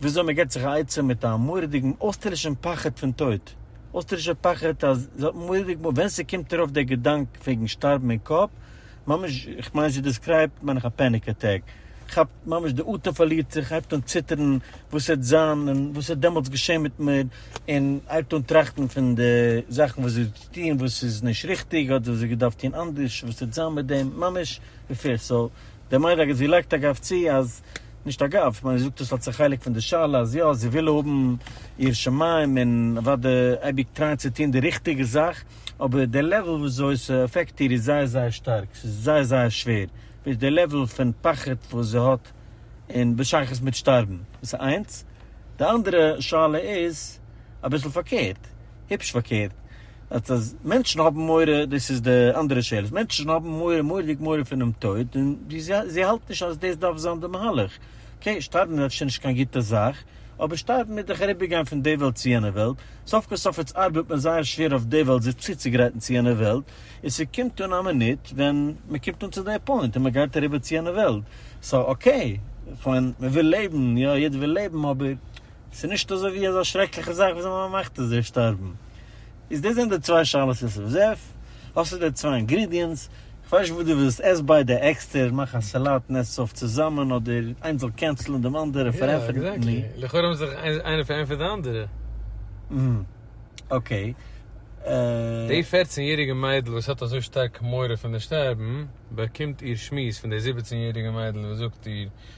וויאזוי מען געבט זיך א עצה מיט א מורא'דיגן אויסטערלישן פחד פון טויט, אויסטערלישער פחד אז זי האט מורא'דיג מאל ווען ס'קומט איר אויף דער געדאנק וועגן שטארבן אין קאפ, ממש איך מיין זי דעסקרייבט מיין איך א פעניק אטעק, כאפט ממש די אטעם פארלירט זיך הייבט אן ציטערן וואס העט זיין און וואס העט דעמאלטס געשען מיט מיר און הייבט אן טראכטן פון די זאכן וואס זי האט געטון וואס איז נישט ריכטיג אדער וואס זי האט געדארפט טון אנדערש וואס העט זיין מיט דעם ממש ווי פערסאו. די מייד אגב זי לייגט אגב צו אז, נישט אגב, כ'מיין זי זאגט עס אלס א חלק פון די שאלה, אז יא זי וויל האבן יראת שמים און אוודאי אייביג טרייען צו טון די ריכטיגע זאך, אבער די לעוועל ווי אזוי ס'עפעקט איר איז זייער זייער שטארק, ס'איז זייער זייער שווער, ווידער די לעוועל פון פחד וואס זי האט און בשייכות מיט שטארבן, דאס איז איינס, די אנדערע שאלה איז אביסל פארקערט. היפש פארקערט, אז אז מענטשן האבן מורא, דאס איז די אנדערע שאלות, מענטשן האבן מורא, מורא'דיג מורא פונעם טויט, און זיי האלטן נישט אז דאס דארף זיין די מהלך. אקעי, שטארבן איז אפשר נישט קיין גוטע זאך, אבער שטארבן איז דאך אריבערגיין פון די וועלט צו יענע וועלט, סוף כל סוף איצט ארבעט מען זייער שווער אויף די וועלט זיך צוצוגרייטן צו יענע וועלט, און ס'קומט אן א מינוט ווען מ'קומט אן צו די פוינט און מ'גייט אריבער צו יענע וועלט, סאו אקעי, כ'מיין מ'וויל לעבן, יא, יעדער וויל לעבן, אבער ס'איז נישט אזוי ווי אזא שרעקליכע זאך וואס די מאמע מאכט אז ער איז שטארבן. איז דאס זענען די צוויי שאלות יוסף זאב. האסטו די צוויי אינגרידיענטס, כ'ווייס נישט וואס דו ווילסט, עס ביידע עקסטער, מאך א סאלאט און עס עס אויף צוזאמען, אדער איינס זאל קענסלען דעם אנדערע, פארענטפערן די עני. יא, עקזעקטלי. לכאורה האבן זיך איינער פארענטפערט די אנדערע. אהמ. אקעי. די אה. פֿערצן יעריגע מיידל וואס האט אזוי שטארק מורא פון די שטארבן, באקומט איר שמועס פון די זיבעצן יעריגע מיידל וואס זאגט איר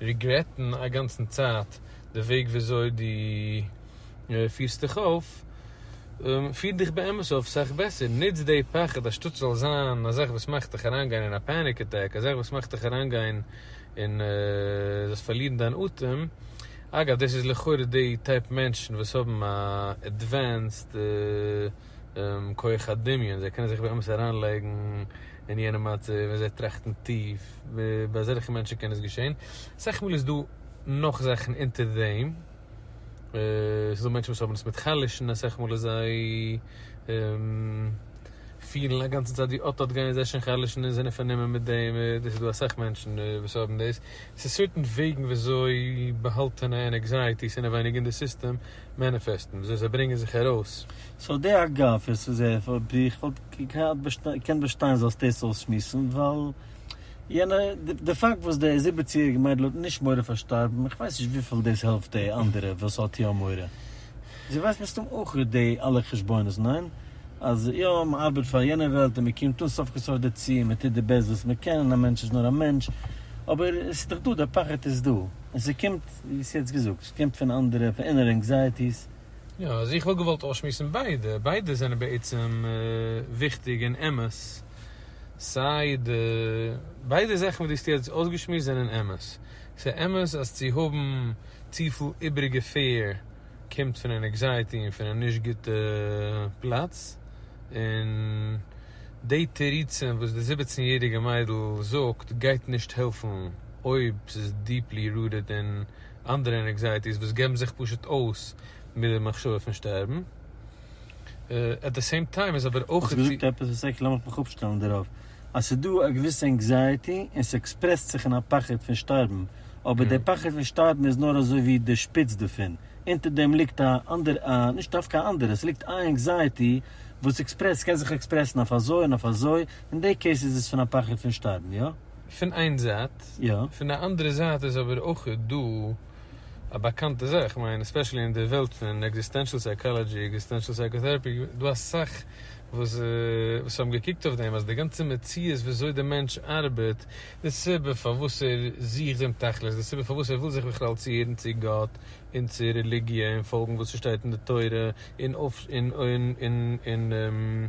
ריגרעטן א גאנצן צייט די וועג וויאזוי די פירסט דיך אויף, פיר דיך באמת אויף סאך בעסער, נוץ די פחד א שטאט ס'זאל זיין א זאך וואס מאכט דיך אריינגיין אין א פעניק אטעק, א זאך וואס מאכט דיך אריינגיין אין זאלסט פארלירן דיין אטעם, אגב דאס איז לכאורה די טייפ מענטשן וואס האבן א עדווענסד. כח הדמיון, זיי קענען זיך באמת אריינלייגן אין יענע מצב און זיי טראכטן טיף, ביי אזעלכע מענטשן קען עס געשען, אסאך מאל איז דא נאך זאכן אונטער דעם, ס'איז דא מענטשן וואס האבן עס מיט חלש'ן, אסאך מאל איז זיי פילן א גאנצע צייט ווי אט אט גייען זיי שוין חלש'ן און זענען פארנומען מיט דעם, דאס איז דא אסאך מענטשן וואס האבן דאס, ס'איז סערטען וועגן ווי אזוי באהאלטענע און ענקזייעטיס אינעווייניג אין די סיסטעם, מעניפעסטן וויאזוי זיי ברענגען זיך ארויס. סאו די אגב איז צו זעהן פאר ווי איך וואלט געקענט באשטיין זאלסט דאס אויסשמועסן ווייל יענע די פאקט וואס די זיבעצן יעריגע מיידל האט נישט מורא פאר שטארבן איך ווייס נישט וויפיל דאס העלפט די אנדערע וואס האט יא מורא זי ווייסט מסתם אויך די אלע חשבונות ניין? אז יא מען ארבעט פאר יענע וועלט און מען קומט אן סוף כל סוף דערצו און מען טוט די בעסט וואס מען קען און א מענטש איז נאר א מענטש אבער עס איז דאך דא די פחד איז דא און ס'קומט ווי האסט יעצט געזאגט. ס'קומט פון אנדערע, פון אינערע ענקזייעטיס. יא, אז איך וואלט געוואלט אויסשמועסן ביידע, ביידע זענען בעצם וויכטיג און אמת, סיי די, ביידע זאכן וואס דו האסט יעצט אויסגעשמועסט זענען אמת. ס'איז אמת אז צו האבן צופיל איבעריגע פעיר קומט פון אן ענקזייעטי און פון א נישט גוטע פלאץ, און די תירוצים וואס די זיבעצן יעריגע מיידל זאגט גייט נישט העלפן אויב ס'איז דיפלי רוטעד אין אנדערע ענקזייעטיס וואס געבן זיך פשוט אויס מיט די מחשבה פון שטערבן. עט די סעים טיים איז אבער אויך. האסט געזאגט עפעס וואס עק לאמיך מיך אפשטעלן דערויף. אז ס'איז דא א געוויסע ענקזייעטי און ס'עקספרעסט זיך אין א פחד פון שטארבן, אבער דער פחד פון שטארבן איז נאר אזוי ווי די שפיץ דערפון, אונטער דעם ליגט א אנדער א נישט דווקא א אנדערע, ס'ליגט איין ענקזייעטי וואס עקספרעסט, ס'קען זיך עקספרעסן אויף אזוי און אויף אזוי, אין די קעיס איז עס פון א פחד פון שטארבן, יא? פון איין זייט, פון די אנדערע זייט איז אבער אויך דא א באקאנטע זאך, איך מיין עספעשעלי אין די וועלט פון עקזיסטענשאל סייקאלאדזשי, עקזיסטענשאל סייקאטערעפי, דא אסאך וואס האבן געקוקט אויף דעם אז די גאנצע מציאות ווי אזוי די מענטש ארבעט, די סיבה פארוואס ער זוכט דעם תכלית, די סיבה פארוואס ער וויל זיך בכלל צוהערן צו גאט און צו רעליגיע און פאלגן וואס ס'שטייט אין די תורה און און און און און און.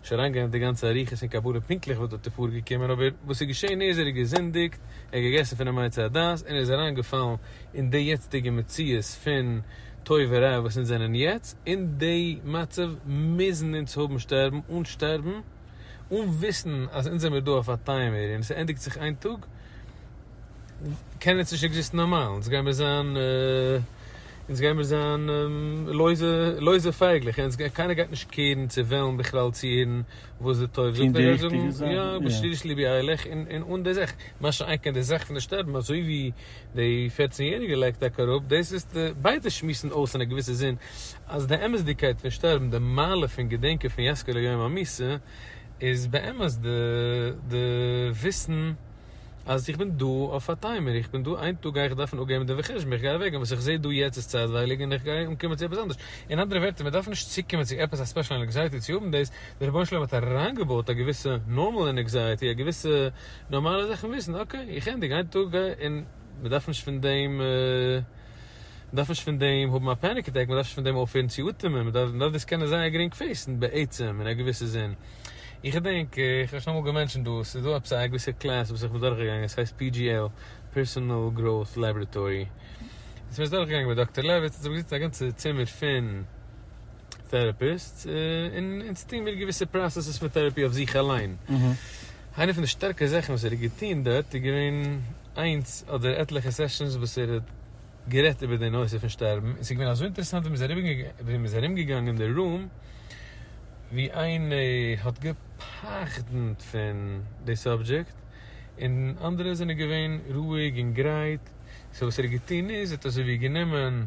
נישט אריינגיין אין די גאנצע אריכות און קבלה פונקטליך וואס דארט איז פארגעקומען, אבער וואס איז געשען איז ער האט געזינדיגט, ער האט געגעסן פון די מעצי הדת און ער איז אריינגעפאלן אין די יעצטיגע מציאות פון טוב ורע וואס אונז זענען יעצט, אין די מצב מוזן אונז האבן שטערבן אן שטערבן, אן וויסן אז אונז זעמיר דא אויף א טיימער און עס ענדיגט זיך איין טאג. קען עס נישט עקזיסטן נארמאל, אונז גייען מיר זיין, אונז גייען מיר זיין לויזע, לויזע פייגלעך, אונז גייט, קיינער גייט נישט קעירן צו וועלן בכלל צו הערן וואס די טוב זאגט, ער גייט זאגן יא, בשריש ליבי איילעך, און אן די זאך, מה שאין כן די זאך פון די שטערן, אזוי ווי די פערצן יעריגע לייגט טאקע אראפ, דאס איז, ביידע שמועסן אויס אין א געוויסע זין, אז די אמת'דיגקייט פון שטערבן, די מעלה פון געדענקען פון יזכה ליום המיתה, איז באמת די וויסן, אז איך בין דא אויף א טיימער, איך בין דא איין טאג גיי איך דארפן אפגעבן דעם חשבון, איך גיי אוועק גיין, וואס איך זעה דא יעצט איז צייטווייליג און איך גיי אנקומען צו עפעס אנדערש, אין אנדערע ווערטער מען דארף נישט צוקומען צו עפעס א ספעשל ענקזייעטי צו האבן דאס, דער רבונו של עולם האט אריינגעבויט א געוויסע נארמאל ענקזייעטי, א געוויסע נארמאלע זאך און וויסן אקעי איך ענדיג איין טאג גיי און מען דארף נישט פון דעם. מען דארף נישט פון דעם האבן א פעניק אטעק, מען דארף נישט פון דעם אויפהערן צו אטעמען, מען דארף דאס קענען זייער גרינג פעיסן בעצם אין א געוויסע זין. איך געדענק, איך האב שוין אמאל געמענטשענט דאס, ס'איז דא עפעס א געוויסע קלעס וואס איך בין דורכגעגאנגען, עס הייסט PGL, Personal Growth Laboratory, וואס מען איז דורכגעגאנגען מיט דאקטער לעוויץ, און זיי האבן געזיצן א גאנצע צימער פון. טערעפיסטס און אונז טוהן מיר געוויסע פראסעסעס פון טערעפי אויף זיך אליין. איינע פון די שטארקע זאכן וואס ער האט געטוהן דארט איז געווען איינס אדער עטליכע סעשאנס וואס ער האט גערעדט איבער די נושא פון שטארבן און ס'איז געווען אזוי אינטערעסאנט ווי מען איז ארום געגאנגען די רום ווי איינע האט געפחד'נט פון די סאבדזשעקט און אנדערע זענען געווען רואיג און גרייט, סאו וואס ער האט געטוהן איז ער האט אזוי ווי גענומען.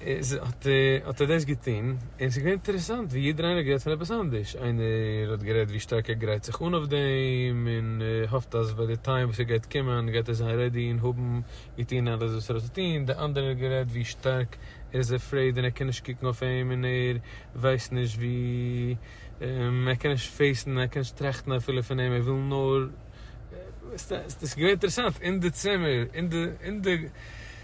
איז האט האט ער דאס געטון, און ס'איז געווען אינטערעסאנט ווי יעדער איינער האט גערעדט פון עפעס אנדערש, איינער האט גערעדט ווי שטארק ער גרייט זיך אן אויף דעם, און האפט אז ביי די טיים וואס ער גייט קומען גייט ער זיין רעדי און האבן געטון אלעס וואס ער האט צו טון, די אנדערער האט גערעדט ווי שטארק ער איז עפרעיד און ער קען נישט קוקן אויף אים און ער ווייסט נישט ווי ער קען נישט פעיסן ער קען נישט טראכטן אפילו פון אים ער וויל נאר, ס'איז געווען אינטערעסאנט אין די צימער אין די.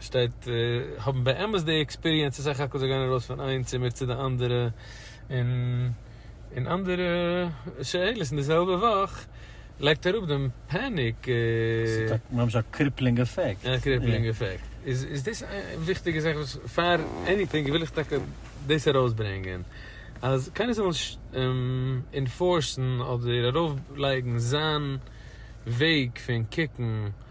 שטייט האבן באמת די עקספיריענס צו סך הכל זיי גייען ארויס פון איין צימער צו די אנדערע און און אנדערע שאלות און די זעלבע וואך לייגט אראפ דעם פעניק. ס'האט ממש א קריפלינג אפעקט. א קריפלינג אפעקט. איז איז דאס א וויכטיגע זאך וואס פאר עניטינג וויל איך טאקע דאס ארויסברענגען אז קיינער זאל נישט אינפארסן אדער ארויפלייגן זיין וועג פון קוקן.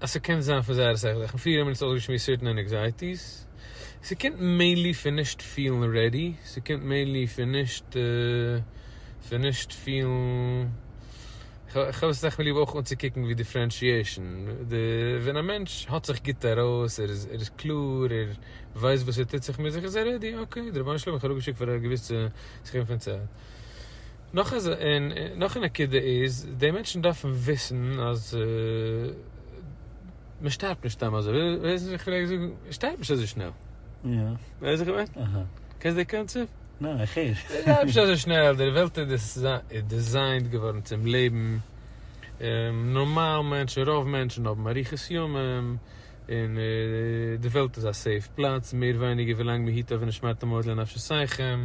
אז ס'קען זיין פון זייערע שכל זאכן, פריער האבן מיר עס אויסגעשמועסט ווי סערטען ענעקזייטיס, ס'קומט מעינלי פון נישט פילן רעדי, ס'קומט מעינלי פון נישט פון נישט פילן, כ'האב עס סך הכל ליב אויך אנצוקוקן ווי דיפרענשיעשן, די ווען א מענטש האט זיך גוט ארויס, ער איז קלאר, ער ווייסט וואס ער טוט זיך מיט זיך, איז ער רעדי, אקעי, די רבונו של עולם האט מיך אראפגעשיקט פאר א געוויסע סכום פון צייט. נאך א נקודה איז, די מענטשן דארפן וויסן אז מען שטארבט נישט סתם אזוי, ווייסן וואס איך פלעג זאגן? מען שטארבט נישט אזוי שנעל. יא. ווייסט וואס איך מיין? אהא. קענסט די קאנצעפט? ניין, איך הער. מען שטארבט נישט אזוי שנעל, די וועלט איז דיזיינט געווארן צום לעבן, נארמאל מענטשן, רוב מענטשן האבן אריכות ימים, און די וועלט איז א סעיף פלאץ, מער ווייניגער ווילאנג מען היט אויף ונשמרתם מאוד לנפשותיכם.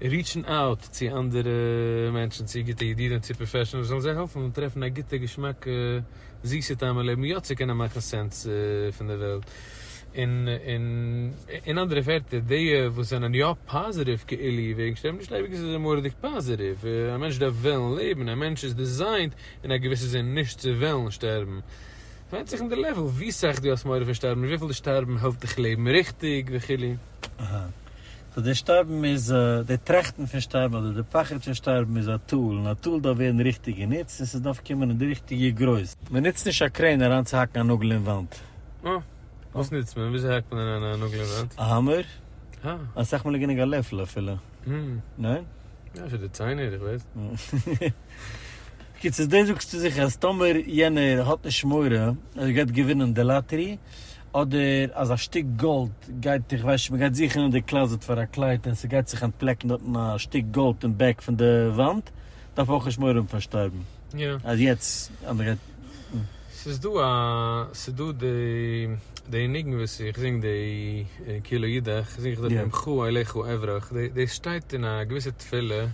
ריטשן אוט צו אנדערע מענטשן, צו גוטע ידידים, צו פראפעשענעלס, זאלן זיי העלפן טרעפן א גוטע געשמאקע זיסע טעם אין לעבן יא צו קענען מאכן סענס פון די וועלט. אין אנדערע ווערטער, די וואס זענען יא פאזעטיוו כאילו וועגן שטערבן נישט אייביג איז עס מוראדיג פאזעטיוו, א מענטש דארף וועלן לעבן, א מענטש איז דיזיינט אין א געוויסע זין נישט צו וועלן שטערבן. ס'ווענדט זיך אין די לעוול ווי סאך דו האסט מורא פון שטארבן, וויפיל די שטארבן העלפט דיך לעבן ריכטיג וכו'. סאו די שטארבן איז א, די טראכטן פון שטארבן אדער די פחד פון שטארבן איז א טול, און א טול דארף ווערן ריכטיג גענוצט, און ס'דארף קומען אין די ריכטיגע גרויס. מען נוצט נישט א קרעין אריינצוהאקן א נאגל אין וואנט. אה. וואס נוצט מען? וויאזוי האקט מען אריין א נאגל אין וואנט? א האמער? אה. אסאך מאל איז גענוג א לעפל אפילו. הממ. ניין? יא, פאר די ציינער, איך ווייס. בקיצור, דאס זאגסטו זיך אז טאמער יענער האט נישט מורא אז ער גייט געווינען די לאטערי, אדער אז א שטיק גאלד גייט, איך ווייס נישט, מען גייט זוכן אין די קלאזעט פאר א קלייד און ס'גייט זיך אנטפלעקן דארטן א שטיק גאלד אין בעק פון די וואנט, דארף אויך נישט מורא האבן פון שטארבן יא. אז יעצט אז מען גייט. ס'איז דא א, ס'איז דא די, די ניגון וואס איך זינג די כי לא ידעך זינג איך דארט די עמך אליך אברח, דאס שטייט אין א געוויסע תפילה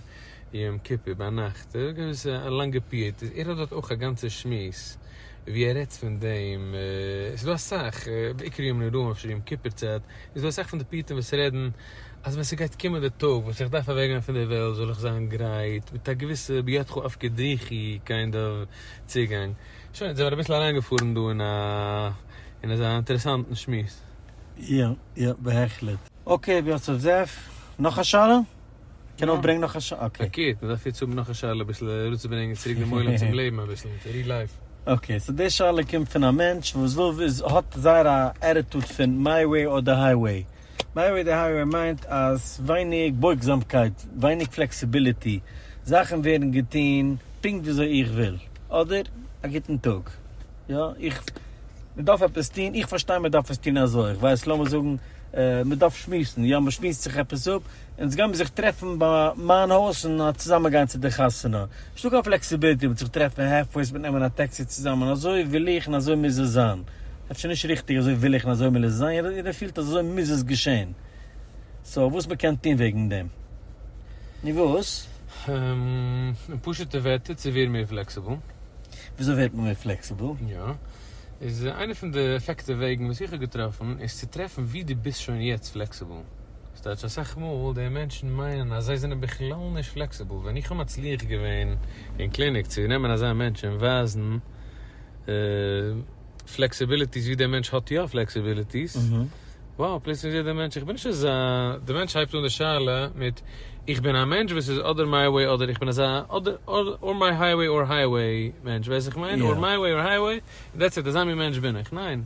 יום כיפור ביינאכט, א געוויסע א לאנגע פיוט, ער האט דארט אויך א גאנצע שמועס ווי ער רעדט פון דעם, עס איז דא אסאך, בעיקר ימים נוראים אפשר יום כיפור צייט, איז דא אסאך פון די פיוטים וואס רעדן אז ווען ס'גייט קומען די טאג וואס איך דארף אוועקגיין פון די וועלט זאל איך זיין גרייט מיט א געוויסע בידך אפקדיחי קיינד אוו צוגאנג. שוין, יעצט זעמער אביסל אריינגעפארן דא אין א אין אזא אינטערעסאנטן שמועס. יא יא בהחלט. אקעי ווי האט זיך זעף נאך א שאלה? קען אויך ברענגן נאך א ש. אקעי. פארקערט, מען דארף יעצט האבן נאך א שאלה אביסל אראפצוברענגען צוריק דעם עולם צום לעבן אביסל אין ריל לייף. אקעי, סאו די שאלה קומט פון א מענטש וואס וויל וויס האט זייער א עטיטוד פון מיי וועי אר די היי וועי. מיי וועי די היי וועי מיינט אז ווייניג בויגזאמקייט, ווייניג פלעקסיביליטי, זאכן ווערן געטון פונקט וויאזוי איך וויל, אדער א גוטן טאג, יא איך מען דארף עפעס טון, איך פארשטיי מען דארף עס טון אזוי, איך ווייס לאמיר זאגן מען דארף שמועסן, יא מען שמועסט זיך עפעס אפ, אונז גיימיר זיך טרעפן ביי מיין הויז און צוזאמען גיין צו די חתונה. איז נישטא קיין פלעקסיביליטי מיט זיך טרעפן העלף פאר עס מיט נעמען א טעקסי צוזאמען אזוי וויל איך און אזוי מוז עס זיין. אפשר נישט ריכטיג אזוי וויל איך און אזוי מוז עס זיין יעדער יעדער פילט אז אזוי מוז עס געשען. סאו וואס מען קען טון וועגן דעם. נו וואס? הםמ. אין פשוטע ווערטער צו ווערן מער פלעקסיבל. וויאזוי ווערט מען מער פלעקסיבל? יא. איז איינע פון די עפעקטיוו וועגן וואס איך האב געטראפן איז צו טרעפן ווי דו ביסט שוין יעצט פלעקסיבל. ס'טייטש אסאך מאל די מענטשן מיינען אז זיי זענען בכלל נישט פלעקסיבל, ווען איך האב מצליח געווען אין קליניק צו נעמען אזא מענטש און ווייזן פלעקסיביליטיס ווי דער מענטש האט יא פלעקסיביליטיס, וואו פלוצלינג זעט דער מענטש איך בין נישט אזא, דער מענטש הייבט אן די שאלה מיט איך בין א מענטש וואס איז אדער מיי וועי אדער איך בין אזא אדער מיי הייוועי אור הייוועי מענטש, ווייסט וואס איך מיין? אור מיי וועי אור הייוועי, דעטס איט, אזא מין מענטש בין איך, ניין.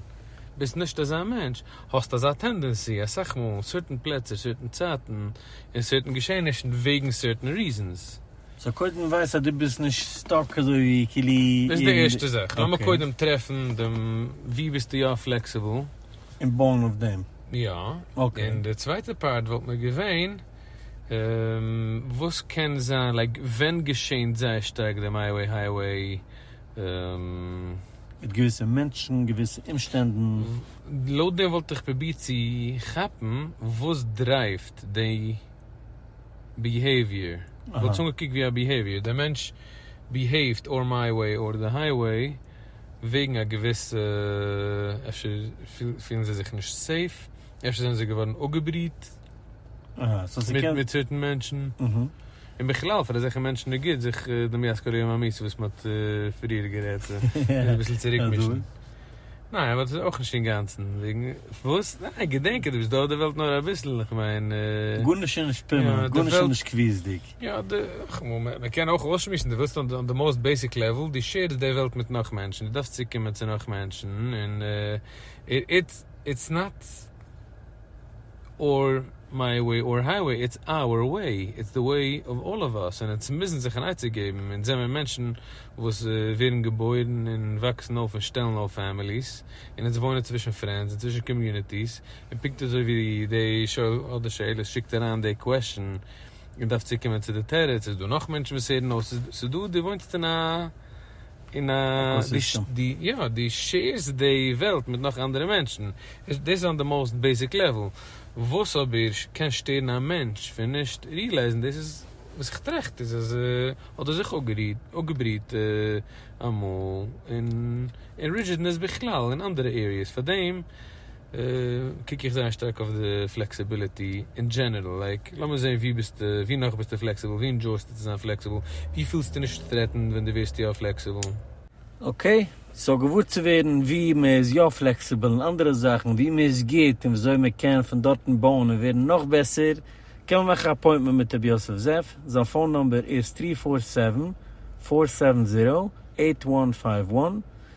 ביסט נישט אזא מענטש, האסט אזא טענדענסי אסאך מאל אין סערטען פלעצער, סערטען צייטן, און סערטען געשעענישן וועגן סערטען ריזענס. סאו קודם ווייס אז דו ביסט נישט סטאק אזויווי כאילו אין. דאס איז די ערשטע זאך, לאמיר קודם טרעפן דעם וואו ביסטו יא פלעקסיבל. און בויען אויף דעם. יא. און די צווייטע פארט וואלט מיר געווען, וואס קען זיין, לייק ווען געשענט זייער שטארק די מיי וועי הייוועי? מיט געוויסע מענטשן, געוויסע אומשטענדן. לויט דעם וואלט איך פרובירט צו כאפן וואס דרייווט די ביהעיוויער, כ'וואלט עס אנגעקוקט ווי א ביהעיוויער, דער מענטש ביהעיווט אר מיי וועי אר די הייוועי וועגן א געוויסע, אפשר פילן זיי זיך נישט סעיף, אפשר זענען זיי געווארן אפגעבריהט, אהא, סאו ס'קען. מיט צוויטן מענטשן. אהא. און בכלל פאר אזעלכע מענטשן איז גוט זיך די מי אזכר יום המעשה וואס מען האט פריער גערעדט אביסל צוריקמישן. ניין אבער דאס איז אויך נישט אינגאנצן וועגן וואס? ניין געדענק אז דו ביסט דא אויף די וועלט נאר אביסל איך מיין. גארנישט איז נישט פערמענענט גארנישט איז נישט קביעות'דיג. יא מען קען אויך אויסשמועסן דו ווילסט אן די מאוסט בעיסיק לעוול דו שעירסט די וועלט מיט נאך מענטשן דו דארפסט צוקומען צו נאך מענטשן און איטס נאט. אור מיי וועי אור הייוועי איטס אווער וועי איטס די וועי אוו אלל אוו אס און אונז מוזן זיך אן עצה געבן אונז זעמיר מענטשן וואס ווערן געבוירן און וואקסן אויף און שטעלן אויף פעמיליס און אונז וואוינען צווישן פרענדס און צווישן קאמיוניטיס און פונקט אזוי ווי די שואל אדער די שואלת שיקט אריין די קוועשן און דארף צוקומען צו די תירוץ איז דא נאך מענטשן וואס הערן אויס ס'איז דא די וואוינסט אין א און א עקאסיסטעם. יא, דו שעירסט די וועלט מיט נאך אנדערע מענטשן. דאס איז אן די מאוסט בעיסיק לעוול. וואס אבער קען שטערן א מענטש פון נישט ריעלייזן דאס איז וואס איך טראכט איז אז האט ער זיך אפגעבריהט אמאל און רידזשידנעס בכלל און אנדערע עריעס פאר דעם. קוק איך זייער שטארק אויף די פלעקסיביליטי אין דזשענערל, לייק לאמיר זעהן ווי ביסטו, ווי נאך ביסטו פלעקסיבל, ווי ענדזשויסטו צו זיין פלעקסיבל, ווי פילסטו נישט טרעטענד ווען דו ווערסט יא פלעקסיבל? אקעי, סאו געוואר צו ווערן ווי מען איז יא פלעקסיבל און אנדערע זאכן, ווי מען איז גוט און וויאזוי מען קען פון דארטן בויען און ווערן נאך בעסער, קען מען מאכן א אפוינטמענט מיט רבי יוסף זאב, זיין פאון נומבער איז טרי פאר סעווען, פאר סעווען זירא, עיט וואן פייוו וואן.